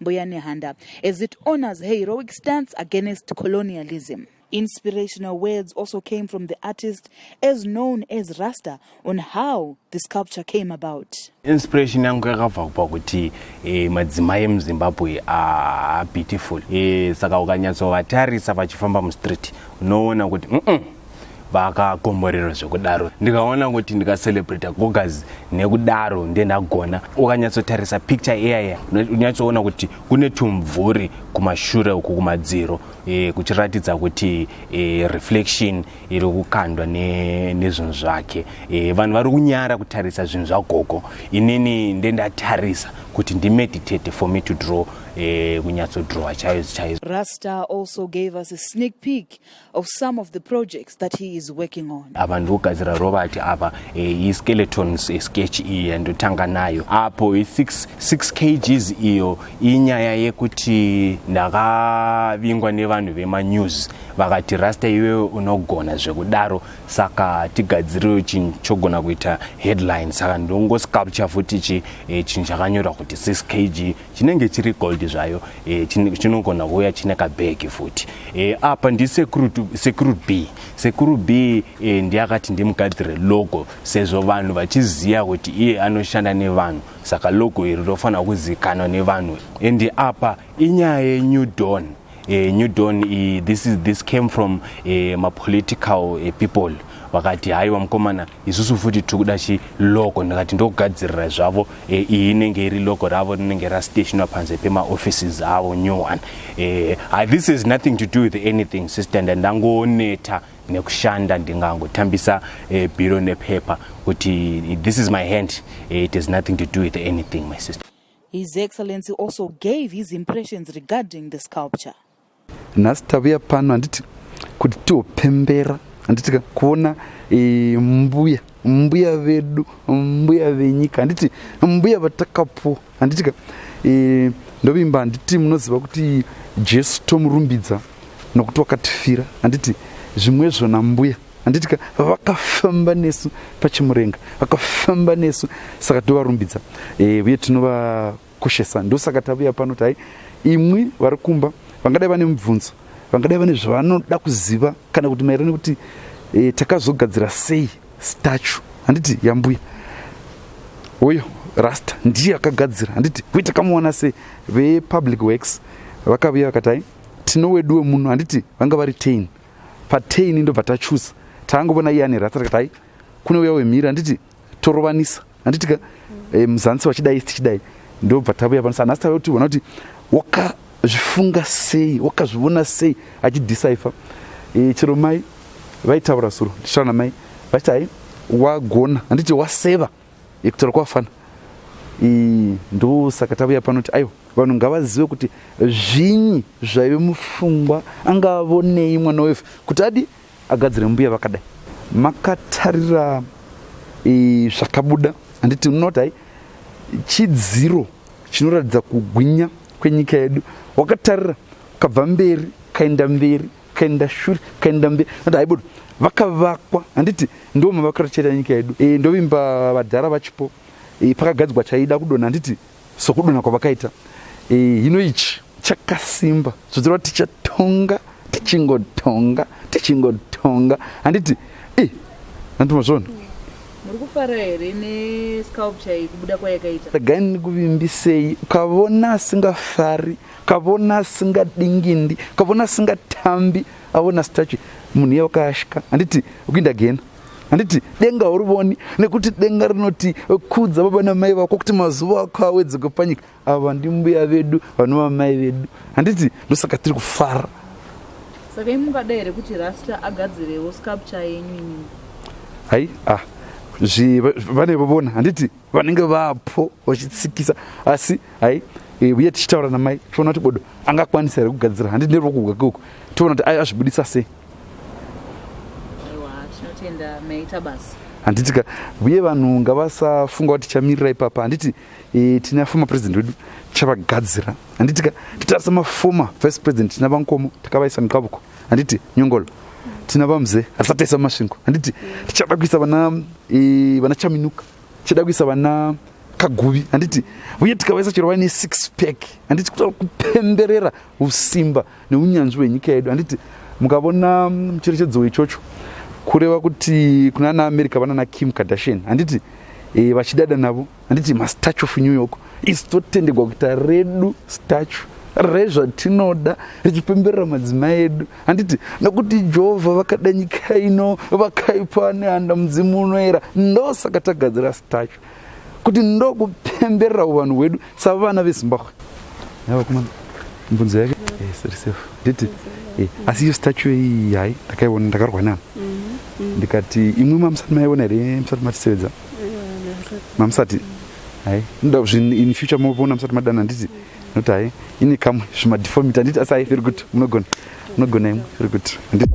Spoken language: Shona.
Mbuya Nehanda, as it honors her heroic stance against colonialism. Inspirational words also came from the artist as known as Rasta on how the sculpture came about. Inspiration yangu yakabva kupa kuti eh, madzimai emuzimbabwe ah, beautiful eh, saka ukanyatsovatarisa vachifamba mustreet unoona kuti mm -mm. vakakomborerwa zvekudaro ndikaona kuti ndikacelebrata gogas nekudaro ndiye ndagona ukanyatsotarisa picture iyaya unyatsoona kuti kune tumvuri kumashure uku kumadziro e, kuchiratidza kuti e, reflection iri kukandwa nezvinhu ne zvake e, vanhu vari kunyara kutarisa zvinhu zvagogo inini ndendatarisa kuti ndimeditate for me to draw e, kunyatsodrowa chaizo chaizo rasta also gave us a sneak peek of some of the projects that he is working on. Ava ndogadzira Robert ava eh, skeletons eh, sketch iyi yandotanga nayo apo 6 6 kgs iyo inyaya yekuti ndakavingwa nevanhu vema news vakati rasta iwewe unogona zvekudaro saka tigadzirewo chinhu chogona kuita headline saka ndongo sculpture futi chi eh, chinhu chakanyorwa kuti 6 kg chinenge chiri gold zvayo e, chinogona chin kuuya chine kabhegi futi e, apa ndisekuru b sekuru b e, ndiye akati ndimugadzire logo sezvo vanhu vachiziva kuti iye anoshanda nevanhu saka logo iri rofanira kuzivikanwa nevanhu endi apa inyaya yenew don eh, new dawn eh, this, is, this came from eh, mapolitical eh, people vakati haiwa mukomana isusu futi tiri kuda chiloko ndikati ndokugadzirira zvavo eh, iyi inenge iri loko ravo rinenge rastationwa panze pemaoffices avo new one eh, ah, this is nothing to do with anything sister ndandangoneta nekushanda ndingangotambisa eh, biro nepepa kuti this is my hand eh, it has nothing to do with anything my sister His Excellency also gave his impressions regarding the sculpture. Nhasi tavuya pano handiti kuti tiopembera handitika kuona e, mbuya mbuya vedu mbuya venyika handiti mbuya vatakapuwa handitika e, ndovimba handiti munoziva kuti jesu tomurumbidza nokuti wakatifira handiti zvimwezvo nambuya handitika vakafamba nesu pachimurenga vakafamba nesu saka tovarumbidza eh, uye tinovakoshesa ndosaka tavuya pano tai imwi vari kumba vangadai vane mubvunzo vangadai vane zvavanoda kuziva kana kuti maererano kuti e, takazogadzira sei stachu handiti yambuya uyo rasta ndiye akagadzira handiti uye takamuwana sei vepublic works vakavuya vakatai tino weduwe muno handiti vanga vari tain patei ini ndobva tachuza taangovona iye ane rasa rakatai kune uya wemhiri handiti torovanisa handitika e, eh, muzansi wachidai tichidai ndobva tavuya pano sana asitave kuti vona kuti wakazvifunga sei wakazvivona sei achidisaifa e, eh, chero mai vaitaura suro ndichitaura namai vachiti hai wagona handiti waseva Hector kwafana ndosaka tauya panoti aiwa vanhu ngavazive kuti zvinyi zvaive mufungwa anga avonei mwana wefe kuti adi agadzire mbuya vakadai makatarira zvakabuda handiti munoti hai chidziro chinoratidza kugwinya kwenyika yedu wakatarira kabva mberi kaenda mberi kaenda shure kaenda mberi nati haibodo vakavakwa handiti ndo mavakatochera nyika yedu e, ndovimba vadhara vachipo e, pakagadzwa chaida kudona handiti sokudona kwavakaita e, hino ichi chakasimba zvodzirwa tichatonga tichingotonga tichingotonga handiti e, handiti mazvona muri kufara here nesculpture iyi kubuda kwayakaita regai ndikuvimbisei ukavona asingafari kavona asingadingindi kavona asingatambi avona stachi munhu iye wakayashika handiti ukuinda gena handiti denga haurivoni nekuti denga rinoti kudza baba namai vako kuti mazuva ako awedzeke panyika ava ndimbuya vedu vanova mai vedu handiti ndosaka tiri kufara saka imungada here kuti rasta agadzirewo sculpture yenyu inini hai ah vane vovona handiti vanenge vapo vachitsikisa asi hai eh, uye tichitaura namai tiona kuti bodo angakwanisa here kugadzira handi neruoko gwake uku tiona kuti azvibudisa sei handiti ka uye vanhu ngavasafunga kuti tichamirira ipapa handiti e, tina former president wedu tichavagadzira handiti ka titarisa maformer vice president tina vankomo takavaisa mukavuko handiti nyongolo tina vamze hatisataisa masvingo handiti tichada kuisa vana e, vana chaminuka chida kuisa vana kaguvi handiti uye tikavaisa chero vaine six pack handiti kutaura kupemberera usimba neunyanzvi hwenyika yedu handiti mukavona mucherechedzo wechocho kureva kuti kuna naamerica vanana kim kardashian handiti e, vachidada navo handiti mastatue of new york isi totendegwa kuita redu statue rezvatinoda richipemberera madzimai edu handiti nokuti jehovha vakada nyika ino vakaipa nehanda mudzimu unoera ndosaka tagadzira stacho kuti ndokupemberera uvanhu hwedu savana vezimbabwe yavakomana mbunzo yake yes, eh, nditi eh, asi iyo stacho iyi hai ndakaiona ndakarwa nani mm-hmm. ndikati imwe mamusati maiona here musati matisevedza mamusati hai ndoda kuzvi in future mopona musati madana handiti not hai ine kamwe zvimadifomiti handiti asi hai very good munogona munogona imwe very good handiti